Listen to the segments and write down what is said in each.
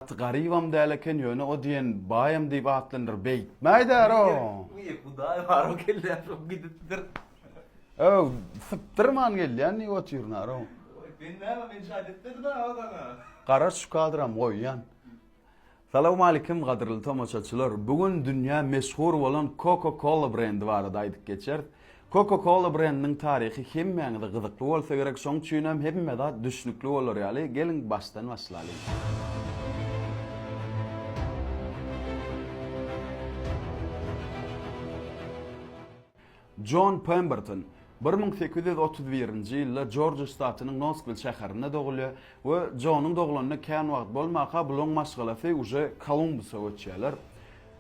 Gaty garybam däl eken ýöne o diýen baýam diýip atlandyryp beýtmäýdär-ow. Diýip hudaý bar o kelle şo gidipdir. Öw, sypdyrman gelýän diýip otyrnar-ow. Oý, sen näme men şaýt etmedim-ä o saňa. Gara şu kadram goýýan. Salowmalikim gadyrly tomaşaçylar, bu gün dünýä meşhur bolan Coca Cola brendi barada aýdyp geçeris. Coca-Cola brendiniň taryhy hemmäňize gyzykly bolsa gerek, şoň üçinem hemme zat düşnükli bolar ýaly, geliň başdan başlalyň. Jon Pemberton bir müň sekiz ýüz otuz birinji ýylda Jorjiýa ştatynyň Noskwil şäherinde dogulýar we Jonyň doglanyna kän wagt bolmanka bulaň maşgalasy uje Kolumbusa göçýärler.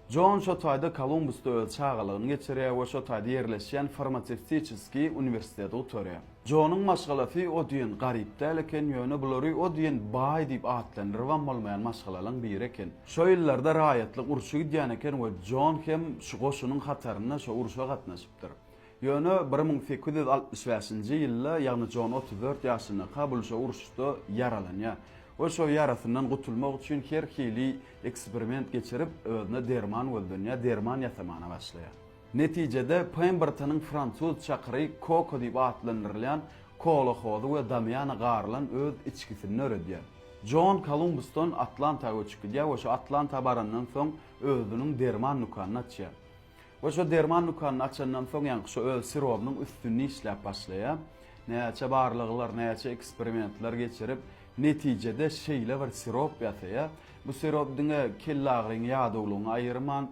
Jon şo taýda Kolumbusda öz çagalygyny geçirýär we şo taýda ýerleşýän Farmasewtiçeskiý uniwersiteti gutarýar. Jonuň maşgalasy o diýen garyp däl eken, ýöne bulary o diýen baý diýip atlandyrybam bolmaýan maşgalalaň biri eken. Şo ýyllarda raýatlyk urşy gidýän eken we Jon hem şu goşunyň hatarynda şo urşa gatnaşypdyr. Ýöne bir müň sekiz ýüz altmyş bäşinji ýylda, ýagny Jon otuz dört ýaşyndaka bulşa uruşda ýaralanýar we şo ýarasyndan gutulmak üçin her hili eksperiment geçirip, özüne derman gözlenýär, derman ýasamana başlaýar. Netijede, Pembertonyň fransuz çakyry Koko diýip atlandyrylýan kola hozy we Damiana garylan öz içgisini döredýär. Jon Kolumbusdan Atlanta göçüp gidýär we şo Atlanta barandan soň özüniň derman dükanyny açýar. We şo derman dükanyny açandan soň ýaňky şo öz sirobynyň üstünde işläp başlaýar. Näçe barlaglar, näçe eksperimentler geçirip, netijede şeýle bir sirop ýasaýar. Bu sirop diňe kellagyryň, ýadawlygyňy aýyrman,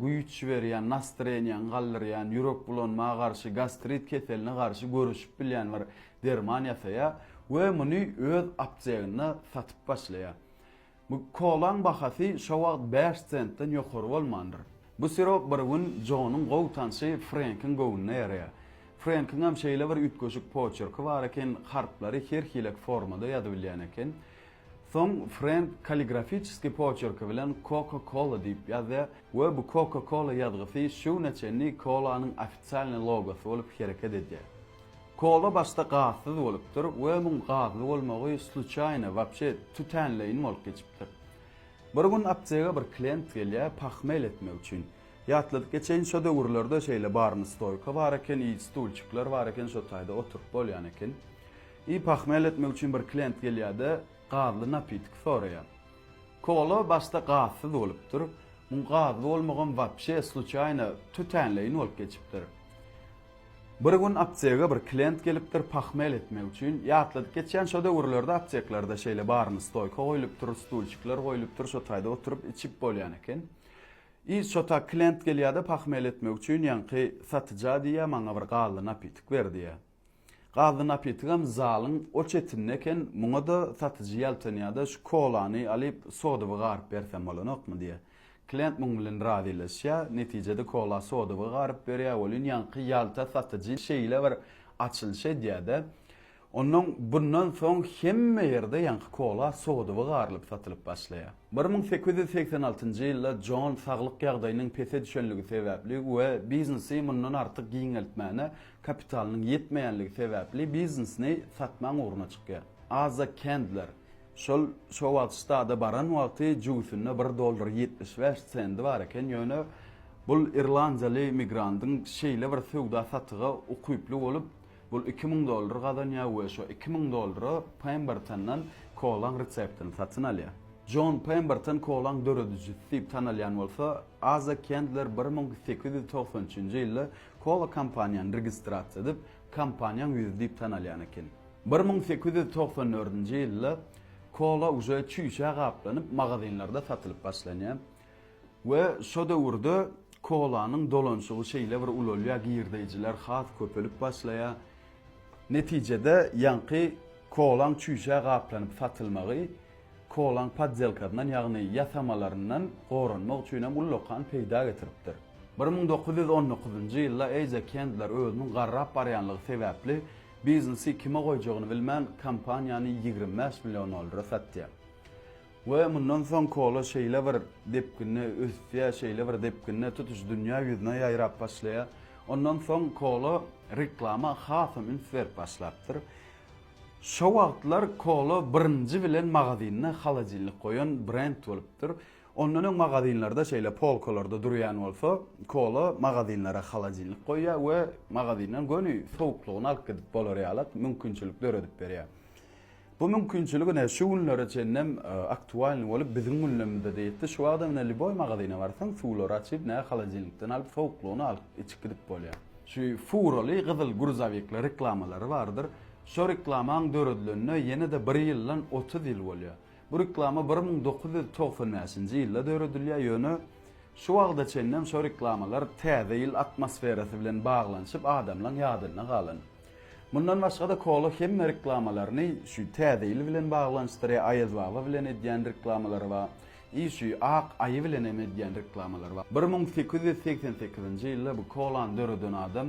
güýç berýän, nastreniýaňy galdyrýan, ýürek bulanma garşy, gastrit keseline garşy göreşip bilýän bir derman ýasaýar we muny öz apteginde satyp başlaýar. Bu kolaň bahasy şo wagt bäş sentden ýokary bolmandyr. Bu sirop bir gün Jonuň gowy tanşy Frenkiň göwnüne ýaraýar. Frenkiňem şeýle bir üýtgeşik poçerki bar eken, harplary her hilek formada ýazybilýän eken. Soň Frenk kalligrafiçeskiý poçerki bilen Coca Cola diýip ýazýar we bu Coca Cola ýazgysy şu güne çenli kolanyň ofisialnyý logosy bolup hereket edýär. Kola başda gazsyz bolupdyr we muň gazly bolmagy sluçaýno, wapşe, tütänleýin bolup geçipdir. Bir gün aptega bir klient gelýär pahmel etmek üçin. Ýatladyp geçeýin şo döwürlerde şeýle barny stoýka bar eken i stulçikler bar eken şo taýda oturyp bolýan eken. I pahmel etmek üçin bir klient gelýärde gazly napitik soraýar. Kola başda gazsyz bolupdyr, muň gazly bolmagam wapşe, sluçaýno, tütänleýin bolup geçipdir. Bir gün aptega bir klient gelipdir pahmel etmek üçin, ýatladyp geçýän şo döwürlerde apteklerde şeýle baryny stoýka goýlupdyr, stulçikler goýlupdyr şo taýda oturyp içip bolýan eken. I şo ta klient gelýäde pahmel etmek üçin ýaňky satyja diýýä maňa bir gazly napitik ber diýýä. Gazly napitigem zalyň o çetinde eken muňada satyjy ýaltanýada şu kolany alyp sodyby garyp bersem bolanokmy diýýä. Klient muň bilen razylaşýar, netijede Kola sodowy garyp berýär, welin ýaňky ýalta satyjy şeýle bir açylyş edýär-de, Onnoň bundan soň hemme ýerde ýaňky kola sodowy garylyp satylyp başlaýar. Bir müň sekiz ýüz segsen altynjy ýylda Jon saglyk ýagdaýynyň pese düşenligi sebäpli we biznesi mundan artyk giňeltmäne kapitalynyň ýetmeýänligi sebäpli biznesini satmaň ugruna çykýar. Aza Kendler. Şol şo wagt stada baran wagty jübüsinde bir dollar ýetmiş bäş sendi bar eken, ýöne bul irlandiýaly migrandyň şeýle bir söwda-satyga ukyply bolup, bul iki müň dollar gazanýar we şo iki müň dollara Pembertondan kolaň reseptini satyn alýar. Jon Pemberton kolaň döredijisi diýip tanalýan bolsa, Aza Kendler bir müň sekiz ýüz togsan üçünji ýylda kola kompaniýany registrasiýa edip, kompaniýaň ýüzi diýip tanalýan eken. Bir müň sekiz ýüz togsan dördünji ýylda kola uje çüýşä gaplanyp magazinlerde satylyp başlanýar we şo döwürde kolanyň dolanşygy şeýle bir ulalýar, girdeýjiler has köpelip başlaýar. Netijede ýaňky kolaň çüýşä gaplanyp satylmagy kolaň poddelkasyndan, ýagny ýasamalaryndan goranmak üçin hem ullakan peýda getiripdir. Bir müň dokuz ýüz on dokuzynjy ýylda Eýja Kendler özüniň garrap barýanlygy sebäpli Biznesi kime goýjagyny bilmän, kompaniýany ýigrimi bäş million dollara satýar. We mundan soň kola şeýle bir depginde ösýär, şeýle bir depginde tutuş dünýä ýüzüne ýaýrap başlaýar. Ondan soň kola reklama hasam üns berip başlapdyr. Şo wagtlar kola birinji bilen magazynda holodilnik goýan brend bolupdyr. Ondan öň magazinlerde şeýle polkalarda durýan bolsa, kola magazinlere holodilnik goýýar we magazinden göni sowuklygyny alyp gidip bolar ýalak mümkinçilik döredip berýär. Bu mümkinçilik ine şu günlere çenlem aktualnyý bolup biziň gündemimizede ýetdi. Şu wagtam ine liboý magazine barsaň suwlary açyp ne holodilnikden alyp sowuklygyny alyp içip gidip bolýar. Şu furaly gyzyl gruzowikli reklamalary bardyr. Şo reklamaň döredilenine ýene-de bir ýyldan otuz ýyl bolýar. Bu reklama bir müň dokuz ýüz togsan bäşinji ýylda döredilýär, ýöne şu wagta çenlem şo reklamalar täze ýyl atmosferasy bilen baglanyşyp adamlaň ýadynda galan. Mundan başgada Kola hemme reklamalaryny şü täze ýyl bilen baglanyşdyrýar, Aýaz baba bilen edýän reklamalary bar, i şü ak aýy bilen hem edýän reklamalary bar. Bir müň sekiz ýüz segsen sekizinji ýylda bu Kolany döreden adam.